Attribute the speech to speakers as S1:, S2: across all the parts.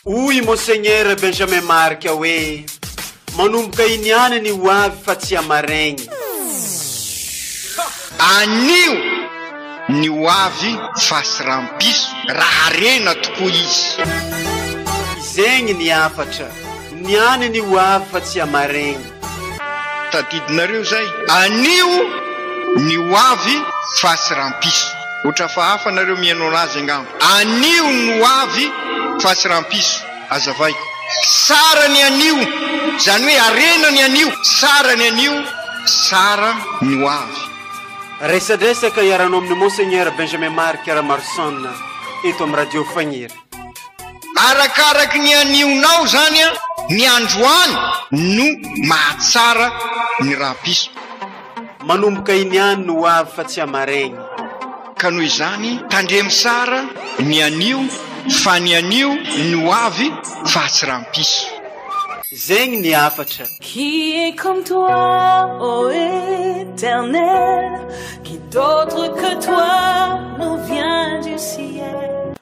S1: Hoy i Monseigneur Benjamin Marc hoe, Manomboka iny ihany ny ho avy fa tsy hamaraigny.
S2: Anio ny ho avy fa tsy rampiso raha harena tokoa izy.
S1: Izegny ny hafatra, ny any ny ho avy fa tsy hamaraigny.
S2: Tadidinareo zay? Anio ny ho avy face rampiso. Otra fa hafa nareo mihaino anazy angamba. Anio ny ho avy face rampiso. Azavay. Tsara ny anio. Zany hoe harena ny anio. Tsara ny anio, tsara ny ho avy. Resadresaka
S1: iharanao amin'ny Monseigneur Benjamin Marc Ramarson eto amin'ny Radio Fagniry.
S2: Arakaraky ny anionao zany ny androany no mahatsara ny rahapiso. Manomboka
S1: iny ihany no ho avy fa tsy hamaregny. Ka noho
S2: izany tandremo sara ny anio fa ny anio no ho avy fa tsy rampiso. Zegny
S1: ny hafatra. Qui est comme
S3: toi ô Éternel Qui d'autre que toi nous vient du ciel.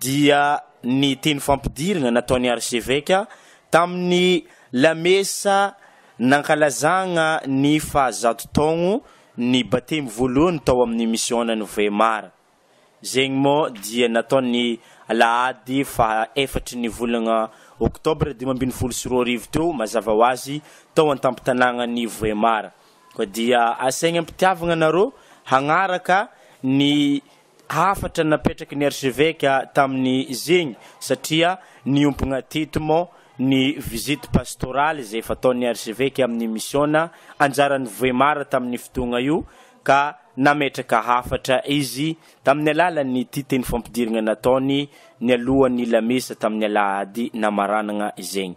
S4: dia ny teny fampidirina nataon'ny arseveka tamin'ny lamesa nankalazagna ny faha zato taogno ny batemy voalohany tao amin'ny misiônan'i Weimar. Zegny mô dia natao ny alahady faha efatry ny volagna oktobra dimy ambin'ny folo sy roa arivo teo mazava ho azy tao an-tampon-tanàgnan'i Weimar. Koa dia asaigna am-pitiavagna anarô hagnaraka ny hafatra napetraky ny archeveka tamin'ny zegny satria niompogna teto mô ny visite pastorale zay fataon'ny archeveka amin'ny misiôna anjaran'i Vohemar tamin'ny fotoagna io ka nametraka hafatra izy tamin'ny alalan'ity teny fampidirigna nataony nialohan'ny lamesa tamin'ny alahady namaranagna zegny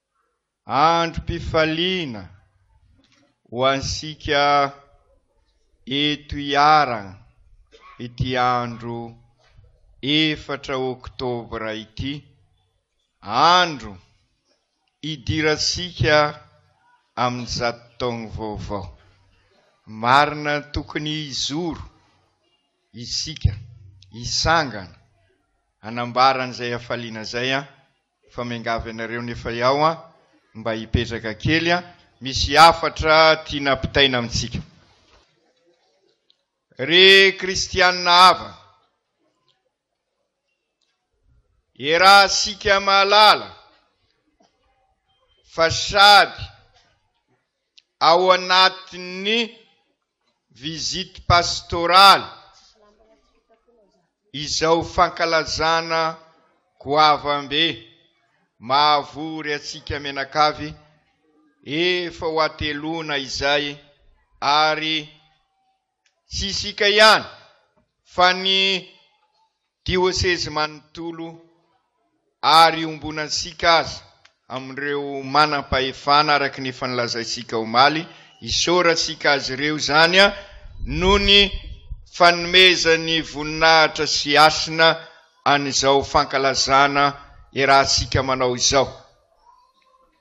S5: Androm-pifaliana ho antsika eto Iharan ity andro efatra oktobra ity, andro hidirantsika amin'ny zato taongo vaovao. Marina tokony hijoro isika, hisangana hanambara an'izay hafaliana izay an! Fa miangavy anareo nefa iao an, mba hipetraka kely an, misy hafatra tiana ampitaina amintsika. Ry kristianina havana, iarahantsika mahalala fa sady. ao anatin'ny visite pastorale izao fankalazana goavambe mahavory antsika mianakavy efa ho ateloana izay ary Tsy isika ihany fa ny diosezy manontolo ary iombonantsika aza amin'ireo manam-pahefana araka ny efa nolazaintsika omaly, isaorantsika azy ireo izany noho ny fanomezany voninahitra sy hasina an'izao fankalazana iarahantsika manao izao.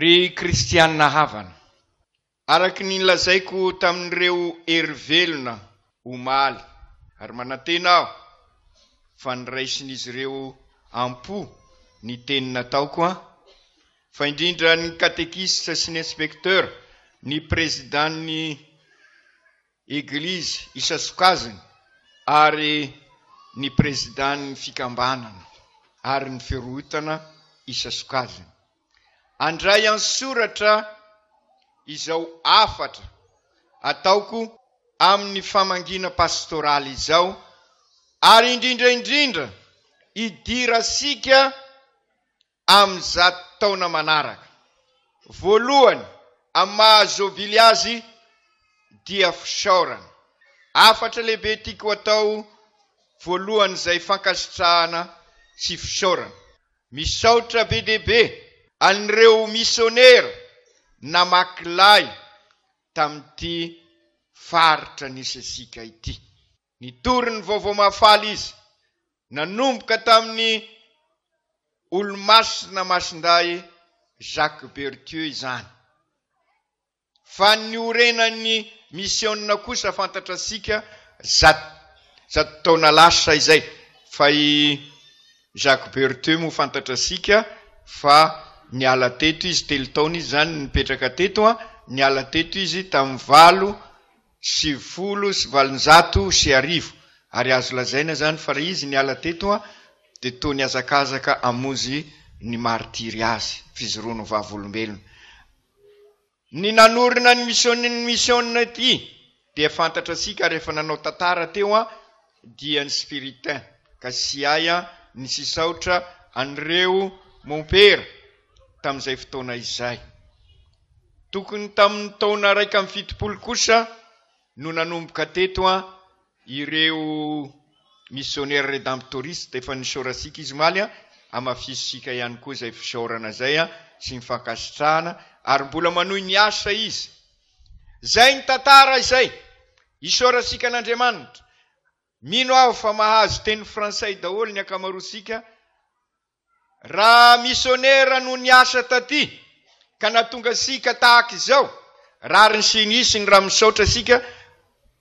S2: Ry kristiana havana, araka ny nolazaiko tamin'ireo hery velona omaly, ary manantena aho fa noraisin'izy ireo am-po ny teny nataoko, fa indrindra ny katekista sy ny inspektera, ny prezidàn'ny. Eglizy isasokajiny ary ny Prezidan'ny Fikambanana ary ny Firohotana isasokajiny. Andray an-tsoratra izao hafatra ataoko amin'ny famangiana pastoraly izao ary indrindra indrindra idirasika amin'ny zato taona manaraka. Voalohany amin'ny maha Zôbily azy dia fisaorana. Hafatra lehibe tiako atao voalohany izay fankasitrahana sy fisaorana. Misaotra be dia be an'ireo misionera namaky lay tamin'ity faritra nisy antsika ity. Nitory ny Vaovao Mahafaly izy, nanomboka tamin'ny Olomasina Masindahy Jacques Berthieu izany. Fa ny niorenan'ny misiona kosa fantatrasika zato zato taona lasa izay, fa i Jacques Berthieu moa fantatrasika fa niala teto izy, telo taona izy izany nipetraka teto, niala teto izy tamin'ny valo Sivifolo sy valonjato sy arivo, ary azo lazaina izany fa raha izy niala teto dia toa nihazakazaka hamonjy ny maritiry azy, fijoroany ho vavolombelona. Ny nanorina ny misioniny misionina ity dia fantatra antsika ary efa nanao tantara teo dia ny spiritain ka tsy hay ny tsy hisaotra an'ireo mompera tamin'izay fotoana izay. Tokony tamin'ny taona iraika amby fitopolo kosa no nanomboka teto an ireo missionnaires redemptoristes efa nisaorantsika izy omaly an, hamafisontsika ihany koa izay fisaorana izay an sy ny fankasitrahana ary mbola manohy miasa izy. Izay ny tantara izay. Isaorantsika an'Andriamanitra. Mino aho fa mahazo teny frantsay daholo ny ankamaroantsika Raha misionera no niasa taty ka natonga antsika tahaka izao rariny sy nisiny raha misaotra isika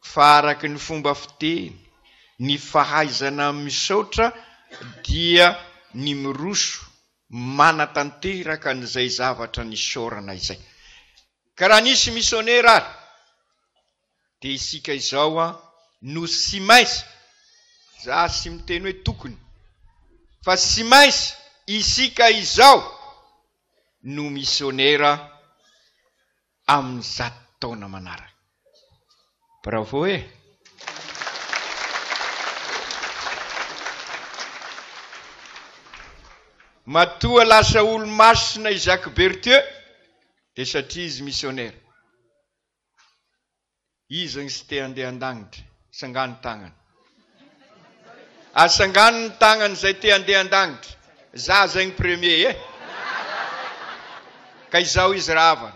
S2: fa araka ny fomba fiteny ny fahaizana misaotra dia ny miroso manatanteraka an'izay zavatra nisaorana izay ka raha nisy misionera ary Dia isika izao an no tsy maintsy, za tsy miteny hoe tokony, fa tsy maintsy isika izao no misionera amin'ny zato taona manaraka. Bravo e! Matoa lasa olo-masina i Jacques Berthieu dia satria izy misionera. Iza ny tsy te handeha an-danitra? Sangano ny tagnana. A sangano ny tagnana izay te handeha an-danitra. Za zay ny premier eh! Ka izao izy rahavana.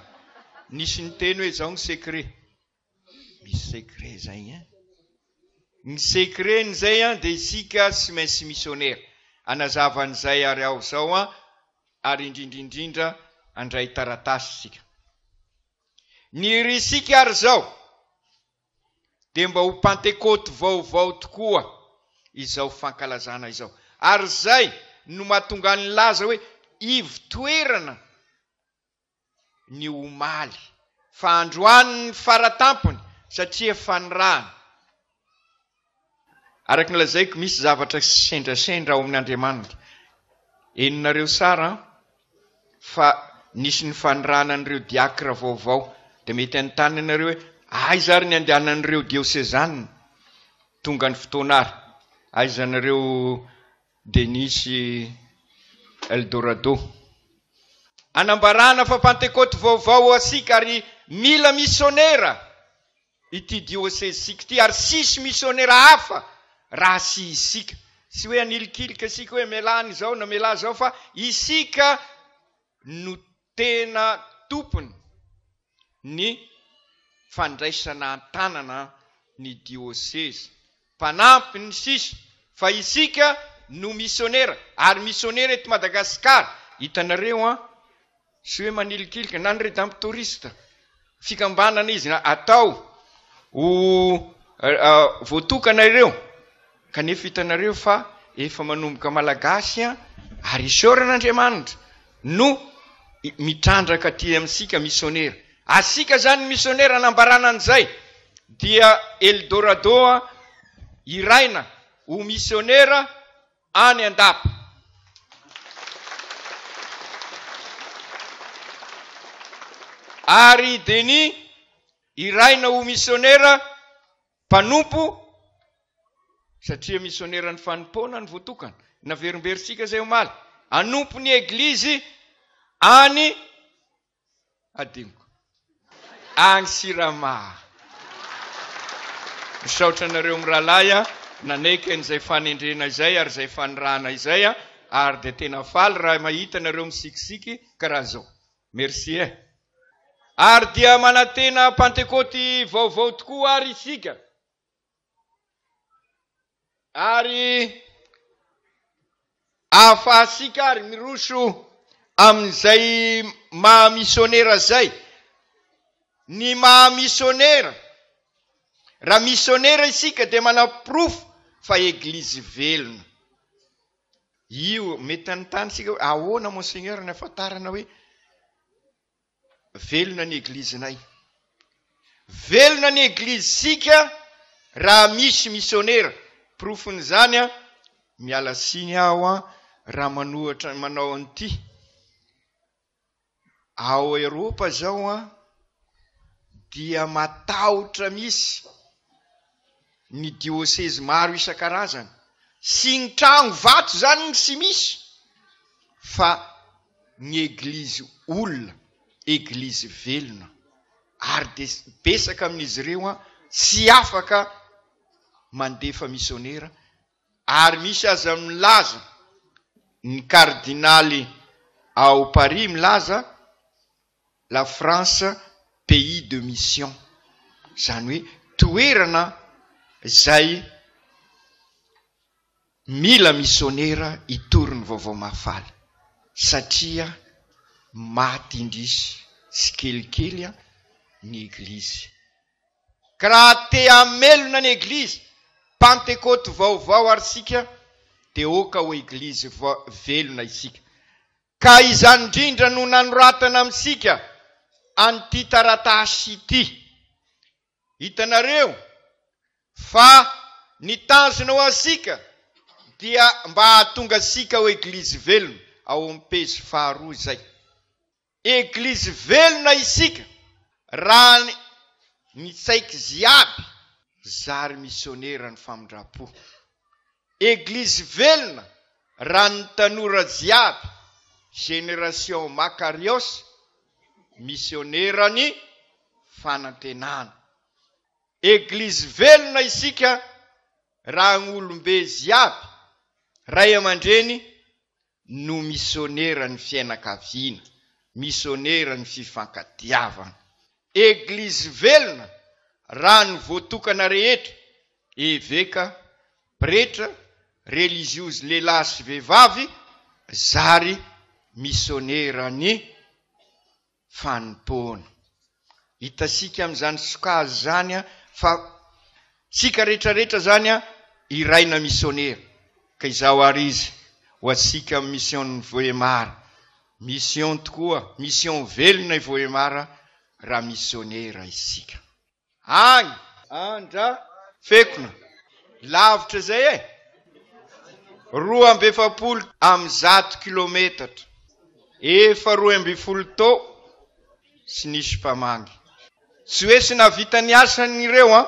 S2: Nisy niteny hoe izao ny secret. Misy secret izay hein! Ny secret n'izay an dia isika tsy maintsy misionera. Hanazava an'izay ary aho izao an, ary indrindra indrindra handray taratasy isika. Ny risika ary izao dia mba ho Pantekoty vaovao tokoa izao fankalazana izao. Ary izay no mahatonga ahy nilaza hoe ivo-toerana ny omaly, fa androany ny fara-tampony satria fanirahana Araka ny lazaiko misy zavatra sendrasendra ao amin' Andriamanitra. Henonareo sara an? Fa nisy ny fanirahana an'ireo diacre vaovao. Dia mety hanontany anareo hoe, aiza ary ny andehanan'ireo diosezana? Tonga ny fotoana ary. Aiza anareo Denis sy Eldorado? Anambarana fa pantekoty vaovao ho asika ary mila misionera. ity diosezisika ity ary tsisy misionera hafa raha tsy isika. Tsy hoe hanilikilika isika hoe mialà an'izao na mialà izao fa isika no tena tompony ny fandraisana an-tanana ny diosezy mpanampy ny sisa fa isika no misionera ary misionera eto Madagascar. Hitanareo an! Tsy hoe manilikilika na ny Redemptoriste. Fikambanana izy atao ho voatokana ireo kanefa hitanareo fa efa manomboka Malagasy an! Ary isaorana Andriamanitra no mitrandraka aty amintsika misionera. Asiaka zany ny misionera nambarana an'izay dia Eldorado a hiraina ho misionera any andapa. Ary i Denis hiraina ho misionera mpanompo satria misioneran'ny fanompoana ny votokana. Naverimberintsika zay omaly. Hanompo ny eglizy any Hadinoko. Agny Sirama. Misaotra anareo mirahalahy a, nanaiky an'izay fanendrena izay ary izay fanirahana izay a, ary dia tena faly raha mahita anareo misikisiky karaha zao. Merci eh. Ary dia manantena Pantekôty vaovao tokoa ary isika. Ary ahafahasika ary miroso amin'izay maha misionera izay. Ny maha misionera, raha misionera isika dia manaporofo fa Eglizy velona. Io, mety hanontany isika hoe, ahoana Monseigneur ny ahafantarana hoe. Velona ny Eglizinay. Velona ny Eglizisika raha misy misionera. Porofon'izany an, miala tsiny aho an, raha manohatra, manao an'ity. Ao Eropa izao an, dia matahotra misy. ny diosezy maro isan-karazany sy ny trano vato izany no tsy misy fa ny eglizy olona, eglizy velona ary dia betsaka amin'izy ireo tsy afaka mandefa misionera ary misy aza milaza, ny kardinaly ao Paris milaza, La France pays de mission zany hoe toerana zay mila missionera hitory ny vaovao mahafaly satria maty indrisy tsikelikely an ny eglizy ka raha te hamelona ny eglizy pantekoty vaovao ary sika de oka ho eglizy velona isika Ka izany indrindra no nanoratana amintsika an'ity taratasy ity. Hitanareo fa ny tanjona ho antsika dia mba hahatonga antsika ho Eglizy velona, ao amin'ny pejy faharoa izay. Eglizy velona isika raha ny tsaik'izy iaby zary misionera ny famindram-po. Eglizy velona raha ny tanora jiaby génération Makarios misioneran'ny fanantenana. Eglizy velona isika raha gnolombe jiaby ray aman-dreny no misioneran'ny fianakaviana, misioneran'ny fifankatiavana. Eglizy velona raha ny voatokana rehetra, eveka, pretra, relijiozy lehilahy sy vehivavy, zary misioneran'ny. fanompoana. Hitasika amin'izany sokajy izany fa tsika rehetra rehetra izany iray na misionera. Ka izaho ary izy ho antsika amin'ny mision'ny Vohemar. Mission tokoa, mission velona i Vohemar raha misionera isika. Any Andrafekona. Lavitra izay e! Roa amby efapolo amin'ny zato kilometatra, efa roa ambin'ny folo tao sy nisy mpamangy. Tsy hoe tsy nahavita ny asany ireo an!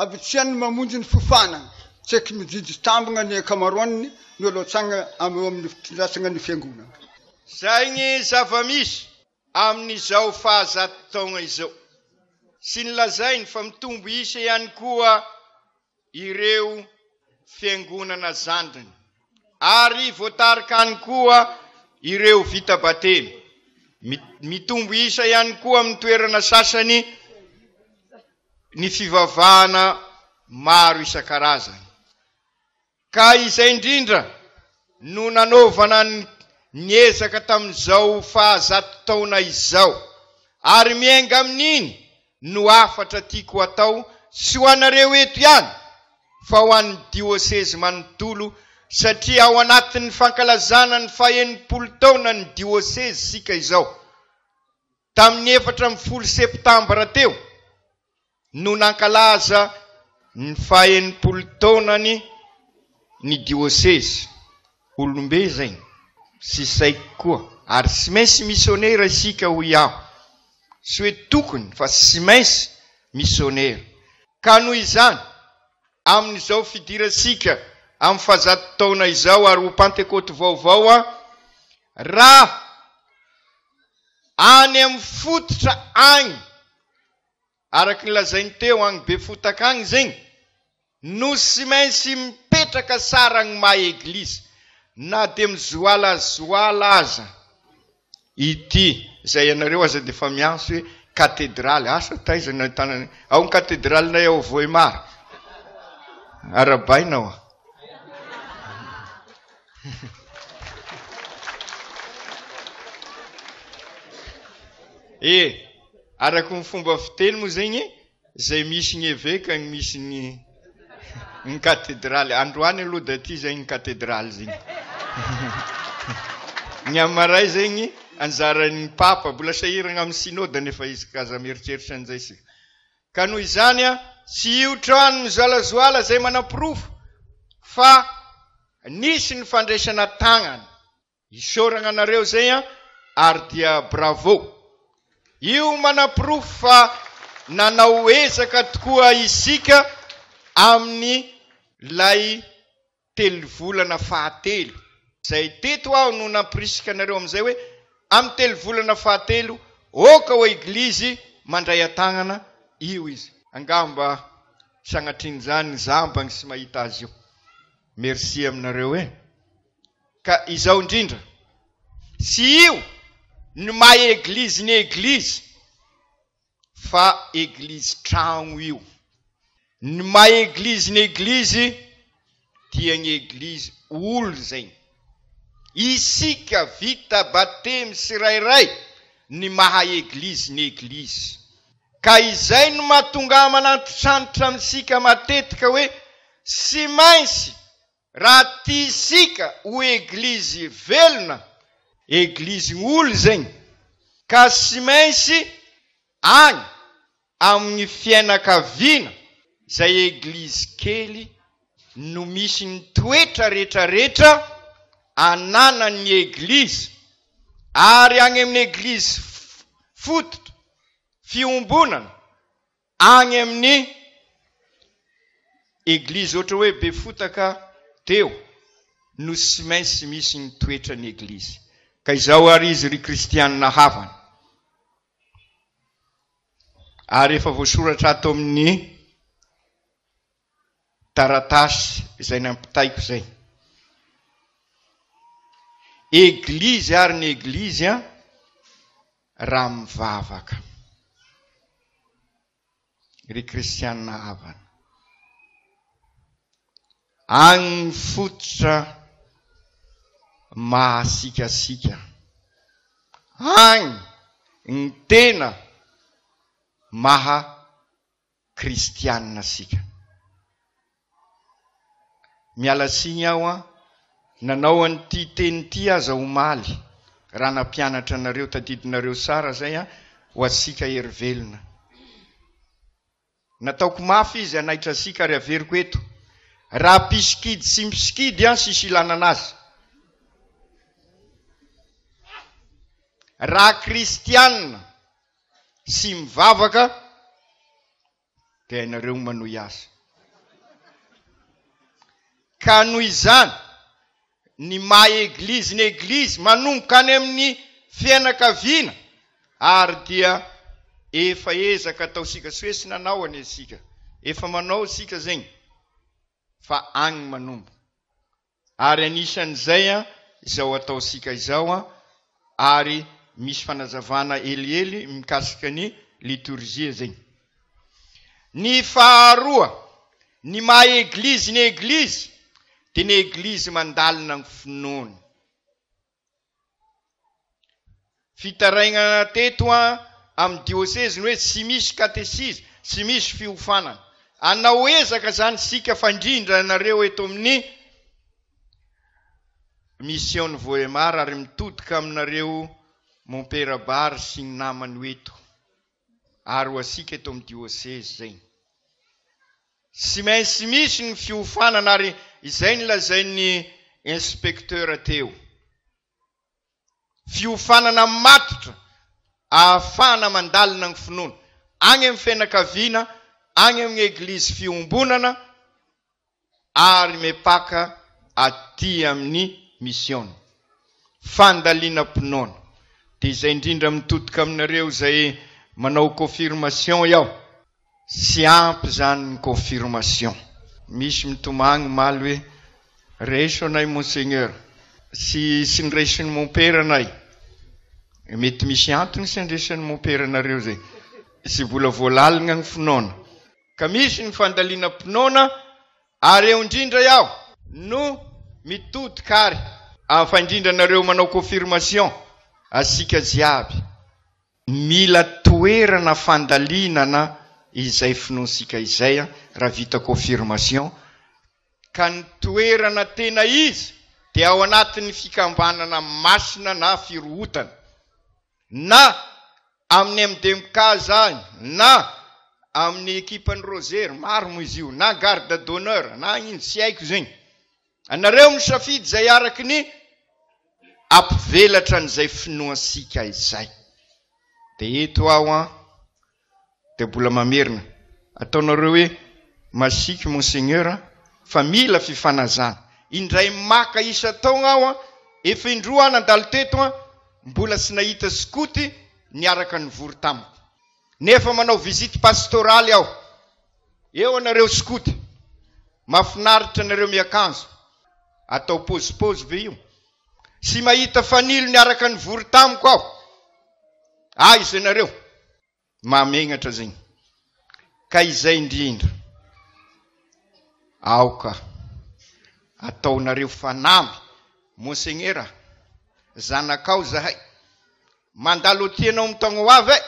S6: Habitsian'ny mamonjy ny fiofanana, tseky mijijy tambina ny ankamaroan'ny ny olatsagna am eo amin'ny fitondrasagna ny fiangonana. Izay ny
S2: zava-misy amin'izao fahazato taogna izao, sy ny lazainy fa mitombo isa ihany koa ireo fiangonana zandriny, ary voatarika any koa ireo vita batemy, mitombo isa ihany koa amin'ny toerana sasany, ny fivavahana maro isan-karazany, ka izay indrindra no nanaovana ny ezaka tamin'izao fahazato taona izao, ary miainga amin'iny no hafatra tiako hatao, tsy ho anareo eto ihany, fa ho an'ny diosezy manontolo, satria ao anatin'ny fankalazana ny fahenimpolo taonan'ny diosezy isika izao. Tamin'ny efatra ambin'ny folo septambra teo no nankalaza ny fahenimpolo taonany ny diosezy. Olom-be izay sy saiky koa ary tsy maintsy misionera isika hoy aho. Tsy hoe tokony fa tsy maintsy misionera. Ka noho izany, amin'izao fidirantsika amin'ny fahazato taona izao ary ho Pantekoty vaovao, raha. any amin'ny fototra agny, araky ny lazainy teo agny Befotaka agny zegny, no tsy maintsy mipetraka tsara gny maha eglizy, na dia mizoalazoala aza ity, izay ianareo aza dia efa miantso hoe katedraly, asa taiza no ahitana an'io? ao ny katedralinay ao Vohemar, arahabaina ao. E, araka ny fomba fiteny moa zegny, zay misy ny eveka ny misy ny ny katedraly. Androany aloha dia ty zegny ny katedraly zegny. ny amaray zegny anjaran'ny papa, mbola sahiragna amin'ny synode nefa izy ka aza mieritreritra an'izay sika. Ka noho izany an, tsy io trano mizoalazoala izay manaporofo fa nisy ny fandraisana tagnana. Isaoragna anareo zay an, ary dia bravo. Io manaporofo fa nanao ezaka tokoa isika amin'ny lay telovolana fahatelo. Izay teto aho no nampirisika anareo amin'izay hoe, amin'ny telovolana fahatelo, oka ao eglizy mandray an-tagnana io izy. Angamba sanatrin'izany ny zambany tsy mahita azy io. Merci aminareo e! Ka izao indrindra, tsy io ny maha eglizy ny eglizy. fa eglizy tragno io. Ny maha eglizy ny eglizy dia ny eglizy olo zegny. Isika vita batemy tsirairay ny maha eglizy ny eglizy. Ka izay no mahatonga aman'antitrantitra amintsika matetika hoe tsy maintsy Raha tia isika ho eglizy velona, eglizy olo zegny, ka tsy maintsy agny amin'ny fiainakaviana zay eglizy kely no misy ny toetra retraretra ananan'ny eglizy ary agny amin'ny eglizy fototra fiombonana, Agny amin'ny Eglizy ohatra hoe Befotaka teo no tsy maintsy misy ny toetran'ny Eglizy. Ka izao ary izy ry Kristianina havana, ary efa voasoratra ato amin'ny taratasy izay nampitaiko izay. Eglizy ary ny eglizy an, raha mivavaka. Ry kristianina havana. Agny fototra mahasikasika. Agny ny tena maha kristianina isika. Miala tsiny aho an, nanao an'ity teny ity aza omaly raha nampianatra anareo, tadidinareo tsara izay an, ho antsika herivelona. Nataoko mafy izy hanaitra antsika ary averiko eto, raha mpisikidy sy mpisikidy an, tsisy ilanana azy. Raha kristianina sy mivavaka dia hainareo ny manohy azy. Ka noho izany, ny maha Eglizy ny Eglizy, manomboka any amin'ny fianakaviana, ary dia efa ezaka ataontsika, tsy hoe tsy nanao anie isika, efa manao isika zegny, fa agny manomboka. Ary anisan'izay izao ataontsika izao ary misy fanazavana helihely mikasika ny litorjia zegny. Ny faharoa, ny maha eglizy ny eglizy dia ny eglizy mandalina ny finoany. Fitarainana teto amin'ny dioseziny hoe tsy misy katesizy, tsy misy fiofanana. Anao ezaka izany isika fandrindra anareo eto amin'ny Mision'ny Vohemar ary mitodika aminareo mompera bar sy ny namany ho eto. ary ho asika eto amin'ny diosezy izay. Tsy maintsy misy ny fiofanana ary izay nolazain'ny inspecteur teo. Fiofanana matotra ahafahana mandalina ny finoana any amin'ny fianakaviana, any amin'ny eglizy fiombonana, ary mepaka aty amin'ny mission fandalinam-pinoana dia izay indrindra mitotoka aminareo izay manao confirmation iaho tsy ampy izany ny confirmation misy mitomagny omaly hoe raiso anay monseigneur tsy tsy niraisin'ny mompera anay mety misy antony tsy andresan'ny mompera anareo izay tsy mbola voalaligna ny finoana Ka misy ny fandalinam-pinoana ary eo indrindra iaho no mitodika ary ah fa indrindra anareo manao confirmation asika jiaby mila toerana fandalinana izay finoantsika izay an raha vita confirmation ka ny toerana tena izy dia ao anatin'ny fikambanana masina na firohotana. Na amin'ny MDMK izany, na amin'ny ekipan'ny Rosery, maro moa izy io, na garde d'honneur, na ino, tsy haiko zegny. Anareo misafidy izay araky ny ampivelatra an'izay finoantsika izay. Dia eto aho an, Dia mbola mamerina. Ataonareo hoe masiaky Monseigneur an! Fa mila fifanazana. Indray maka isan-taogna aho an! Efa indroa aho nandalo teto an! Mbola tsy nahita skoty niaraka nivory tamiko. Nefa manao visite pastoraly aho. Eo anareo skoty. Mafinaritra nareo miakanjo. Atao pôzipôzy ve io? Tsy mahita fanilo niaraka nivory tamiko aho. Aiza ianareo? Mahamegnatra zegny. Ka izay indrindra. Aoka ataonareo fanamby. Monsegnera, zanakao zahay. Mandalo aty ianao amin'ny taogna ho avy e!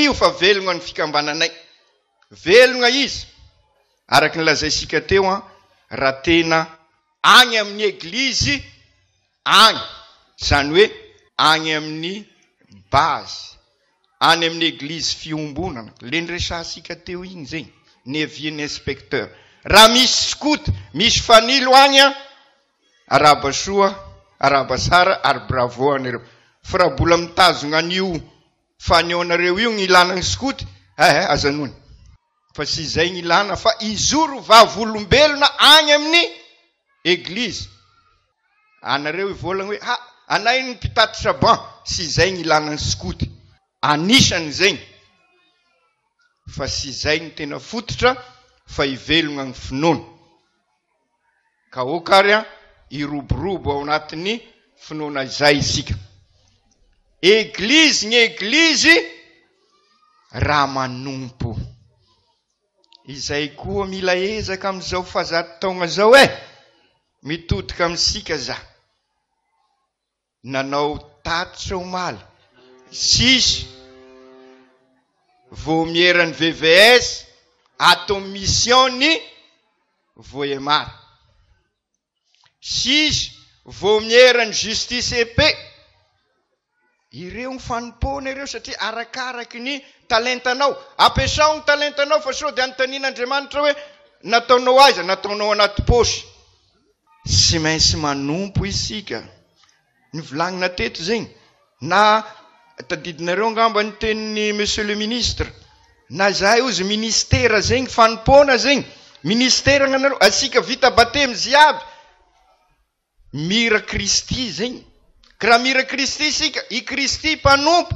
S2: Io fa velogna ny fikambananay. Velogna izy! Araka ny lazaintsika teo an, raha tena any amin'ny eglizy any, izany hoe any amin'ny base, any amin'ny eglizy fiombonana, ilay niresahantsika teo iny izay, ny avis-n'ny inspecteur. Raha misy scout, misy fanilo any an, arahaba soa, arahaba tsara ary bravo ho anareo. Fa raha mbola mitazona an'io fanehoanareo io ny ilàna ny scout, eh eh, aza noana. Fa tsy izay ny ilana fa hizoro vavolombelona any amin'ny eglizy. Anareo hivolagna hoe ha anay ny mpitatitra ban, tsy izay ny ilana ny skoto. Anisany zegny fa tsy izay ny tena fototra fa hivelogna ny finoana. Ka ok ary an, hiroborobo ao anatin'ny finoana izay isika. Eglizy ny eglizy raha manompo. Izay koa mila ezaka amin'izao fahazato taogna zao eh! Mitodika amintsika za. nanao tatitra omaly sisa vaomieran'ny VVS ato amin'ny mission-n'i Vohemar. Sisa vaomieran'ny Justice et Paix. Ireo ny fanompoana ireo satria arakaraky ny talentanao. Ampiasao ny talentanao fa sao dia anontanian'Andriamanitra hoe nataonao aiza? Nataonao anaty paosy. Tsy maintsy manompo isika. Novolagnina teto zegny, na tadidinareo angamba ny tenin'ny Monsieur le Ministre, na izahay ozy Ministera zegny fanompoana zegny, Ministera agnanareo, antsika vita Batemy ziaby, mira Kristy zegny, ka raha mira Kristy isika, i Kristy mpanompo,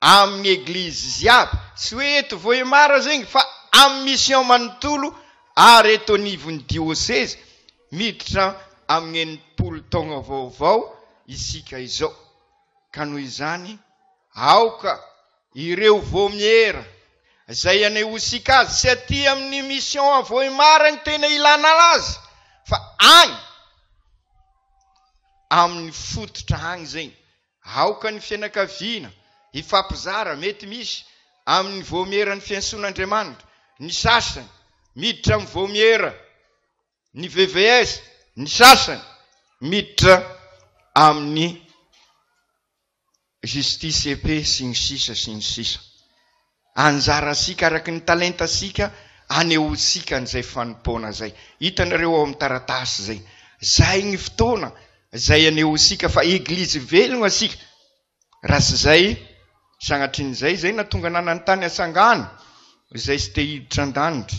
S2: Amin'ny eglizy jiaby, tsy hoe eto Vohemar zegny fa amin'ny mission manontolo ary eto anivon'ny diosezy, miditra amin'ny enimpolo taogna vaovao isika izao. Ka noho izany, aoka ireo vomiera zay anehosika azy tsy aty amin'ny mission à Vohemar agny tena ilana azy fa agny amin'ny fototra agny zegny Aoka ny fianakaviana hifampizara, mety misy, amin'ny vaomieran'ny fiantsoan'Andriamanitra. Ny sasany miditra amin'ny vaomiera ny VVS, ny sasany miditra amin'ny Justice et Paix, sy ny sisa sy ny sisa. Anjarantsika araka ny talentantsika anehoantsika an'izay fanompoana izay. Hitanareo ao amin'ny taratasy izay. Izay ny fotoana izay anehoantsika fa Eglizy velona isika. Raha tsy izay, sanatria an'izay izay nahatonga ananany tany an-tsangano izay tsy te hiditra an-danitra.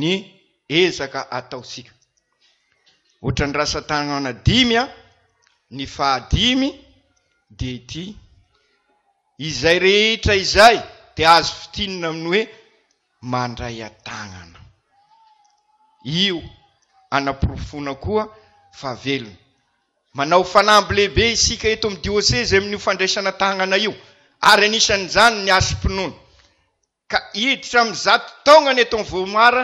S2: ny ezaka ataontsika. Ohatran'ny rantsan-tanana dimy an, ny fahadimy dia ity, izay rehetra izay dia azo fintinina amin'ny hoe mandray an-tanana. Io anaporofoana koa fa velona. Manao fanamby lehibe isika eto amin'ny diosezy amin'io fandraisana tanana io ary anisan'izany ny asom-pinoana. Ka hiditra amin'ny zato taognany eto amin'ny Vohomara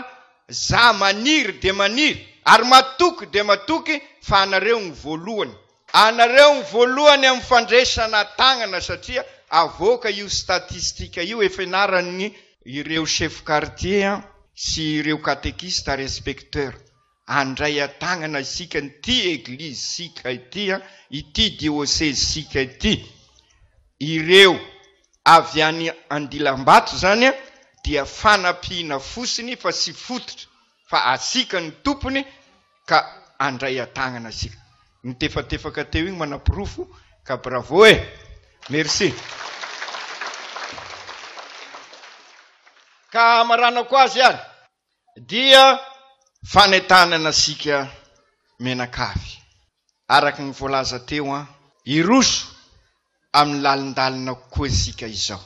S2: za maniry dia maniry ary matoky dia matoky fa anareo ny voalohany, anareo ny voalohany amin'ny fandresana tagnana satria avoaka io statistika io efa enaran'ny ireo chef quartier sy ireo catéquiste ary inspecteur Handray an-tanana isika an'ity Eglizisika ity, ity Diôsezisika ity. Ireo avy any Andilambato izany dia fanampiana fotsiny fa tsy fototra, fa asika no tompony ka handray an-tanana isika. Nitefatefaka teo iny manaporofo ka bravo e! Merci. Ka hamaranako azy ary. dia fanentanana antsika mianakavy, araka ny voalaza teo an, hiroso amin'ny lalindalina kokoa isika izao,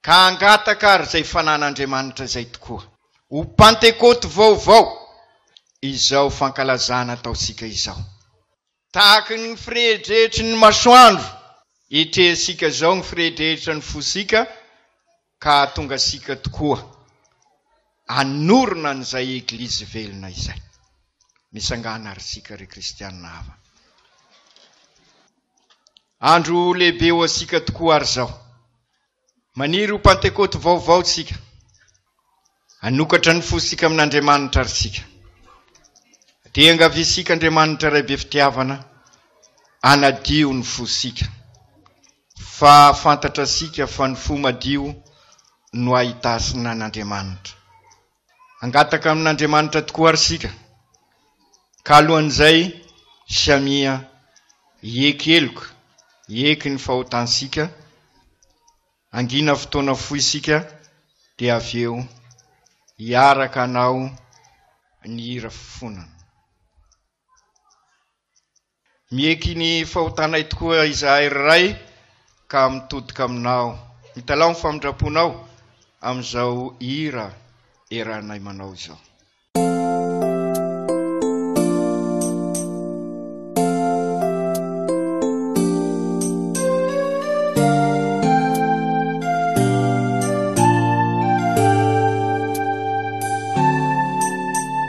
S2: ka hangataka ary izay fanan'Andriamanitra izay tokoa, ho Pantekoty vaovao, izao fankalazana ataontsika izao. Tahaky ny firedretry ny masoandro, etrehantsika izao ny firedrehetra ny fosika ka hahatonga antsika tokoa hanorina an'izay Eglizy velona izay. Mitsangàna àry isika, ry Kristianina havana. Andro lehibe ho antsika tokoa àry izao. Maniry ho Pantekoty vaovao isika. Hanokatra ny fosika amin'Andriamanitra ary isika. Te hiangaviantsika Andriamanitra Ray be fitiavana hanadio ny fosika. Fa fantatra isika fa ny fo madio no ahitasina an'Andriamanitra. Hangataka amin'Andriamanitra tokoa àry isika, ka alohan'izay Samia hieky heloka, hieky ny fahotantsika, hangina fotoana fohy isika, dia avy eo hiaraka hanao ny hira fifonana. Mieky ny fahotanay tokoa izahay ry Ray ka mitodika Aminao. Mitalaho ny famindramponao amin'izao hira eranay manao izao.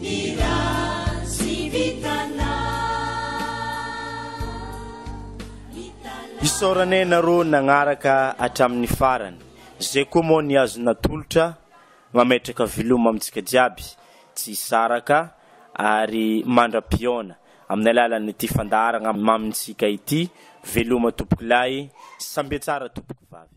S4: Ny rano tsy vitana Isaorana ianareo nagnaraka hatramin'ny farany. Zay koa moa ny azo natolotra mametraka veloma amintsika jiaby tsy hisaraka ary mandra-pihaona amin'ny alalan'ity fandaharagna mamintsika ity. Veloma tompokolahy, sambe tsara tompokovavy.